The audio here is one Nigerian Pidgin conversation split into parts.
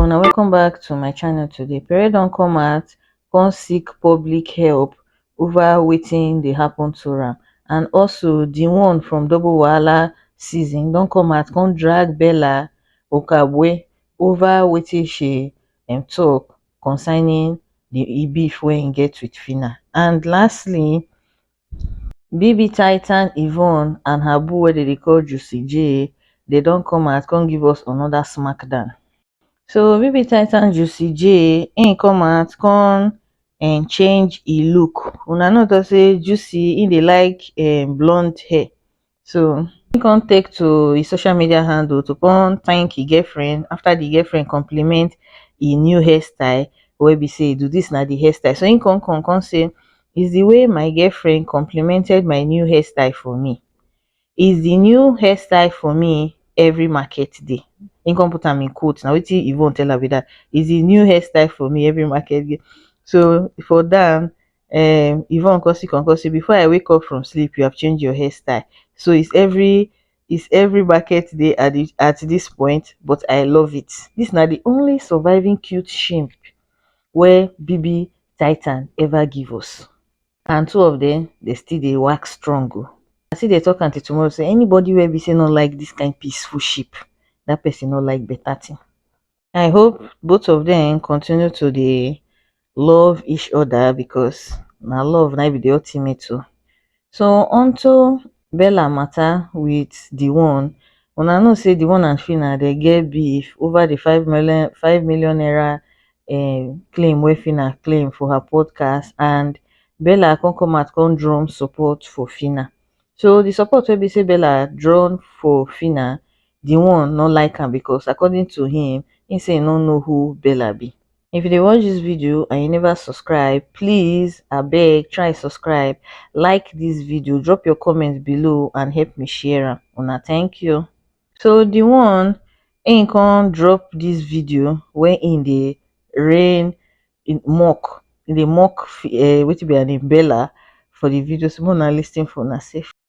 una welcome back to my channel today pere don come out come seek public help over wetin dey happen to am and also the one from double wahala season don come out come drag bella okagbue over wetin she um talk concerning the e beef wey im get with phyna and lastly Bb Titan Yvonne and her boo wey dem dey call Juicy J, dem don come out come give us another smack down. So Bb Titan Juicy J im come out come um change e look, una know talk say Juicy im dey like um blonde hair, so he come take to his social media handle to come thank his girlfriend after the girlfriend compliment his new hairstyle wey be say do this na the hairstyle so he come come come say is the way my girlfriend complimented my new hairstyle for me is the new hairstyle for me every market day he come put am in quote na wetin yvonne tell am be that is the new hairstyle for me every market day so for that um yvonne come see come come say before i wake up from sleep you have changed your hairstyle so is every is every market day at the at this point but i love it this na the only surviving cute shimp wey bb titan ever give us and two of them they still dey work strong o i still dey talk until tomorrow say anybody wey be say no like this kind peaceful ship that person no like better thing i hope both of dem continue to dey love each oda because na love na be di ultimate o so onto bella mata wit di one una know say di one and phyna dem get beef over di five mile five million naira um claim wey phyna claim for her podcast and bella come come out come drum support for phyna so di support wey be say bella drum for phyna di one no like am because according to him he say he no know who bella be if you dey watch this video and you never subscribe please abeg try subscribe like this video drop your comment below and help me share am una thank you so the one him come drop this video wey him dey rain in mock him dey mock uh, wetin be her name bella for the video so make una lis ten for una sef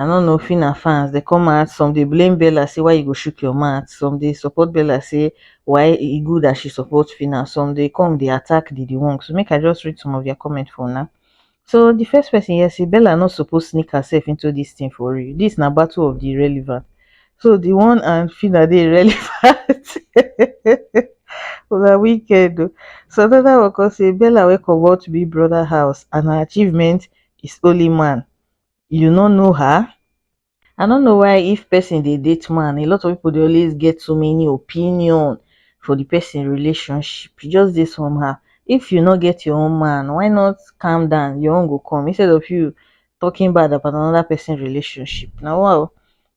i no know phyna fans dey come out some dey blame bella say why you go chook your mouth some dey support bella say why e good as she support phyna some dey come dey attack didimong so make i just read some of their comment for una so the first person here say bella no suppose sneak herself into this thing for real this na battle of the irrelevant so the one and phyna dey irrelevant una wicked o so another one come say bella wey comot big brother house and her achievement is only man you no know her i no know why if person dey date man a lot of people dey always get so many opinion for the person relationship e just dey somehow if you no get your own man why not calm down your own go come instead of you talking bad about another person relationship na wa o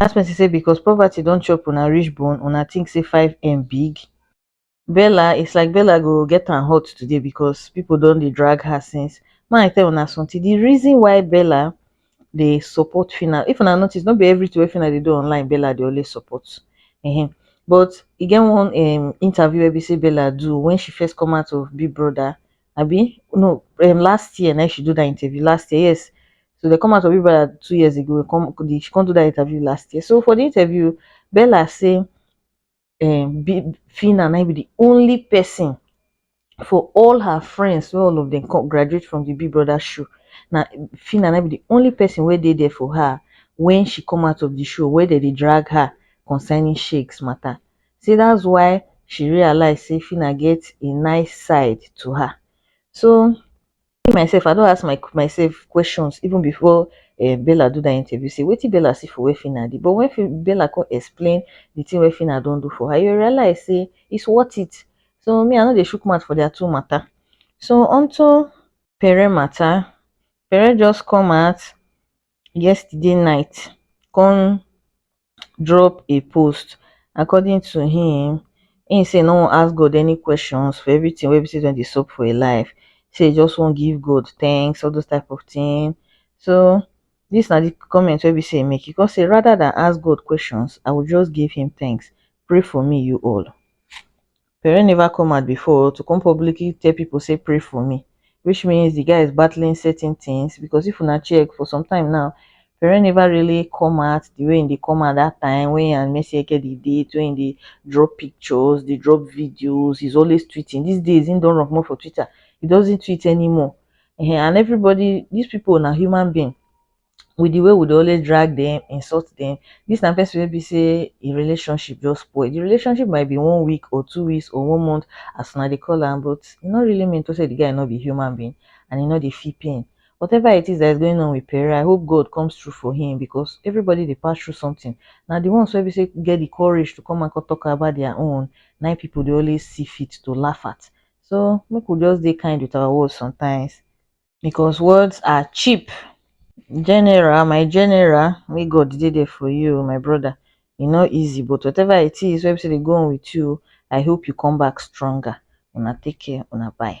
dat person say because poverty don chop una reach bone una think say 5m big? bella its like bella go get am hot today because people don dey drag her since make i tell una something the reason why bella dey support phyna if una notice no be everything wey phyna dey do online bella dey always support um but e get one um interview wey be say bella do when she first come out of big brother abi no um last year na im she do that interview last year yes so dem come out for Big Brother two years ago come the she come do that interview last year so for the interview Bella say um Bi- Fina na im be the only person for all her friends wey all of them come graduate from the Big Brother show na Fina na im be the only person wey dey there for her when she come out of the show wey dem dey drag her concerning shakes matter sey that's why she realize sey Phyna get a nice side to her. So me myself I don ask my myself questions even before um Bella do that interview sey wetin Bella see for where Phyna dey but when Bella come explain the thing wey Phyna don do for her, you realize sey it's worth it. So me I no dey chook mouth for their two matter. So unto Pere matter, Pere just come out yesterday night come drop a post according to im im say e no wan ask god any questions for everytin wey be say don dey sup for im life say e just wan give god thanks all those type of tin so dis na di comment wey be say e make e come say rather dan ask god questions i will just give him thanks pray for me you all Pere never come out before to come publicly tell people say pray for me which means the guy is battling certain things because if una check for some time now Pere never really come out the way they come out that time when he and Mercy Eke dey date when they drop pictures they drop videos he's always tweeting these days he don't run more for Twitter he doesn't tweet anymore and everybody these people are human being with the way we dey always drag dem, insult dem, dis na person wey be sey im relationship just spoil, the relationship might be one week or two weeks or one month as una dey call am but e no really mean to sey the guy no be human being and e no dey feel pain. Whatever it is that is going on with Pere I hope God comes through for him because everybody dey pass through something, na the ones wey be sey get the courage to come out come talk about their own na im people dey always see fit to laugh at, so make we just dey kind with our words sometimes. because words are cheap general my general make God dey there for you o my brother e no easy but whatever it is wey be sey dey go on with you I hope you come back stronger una take care una bye.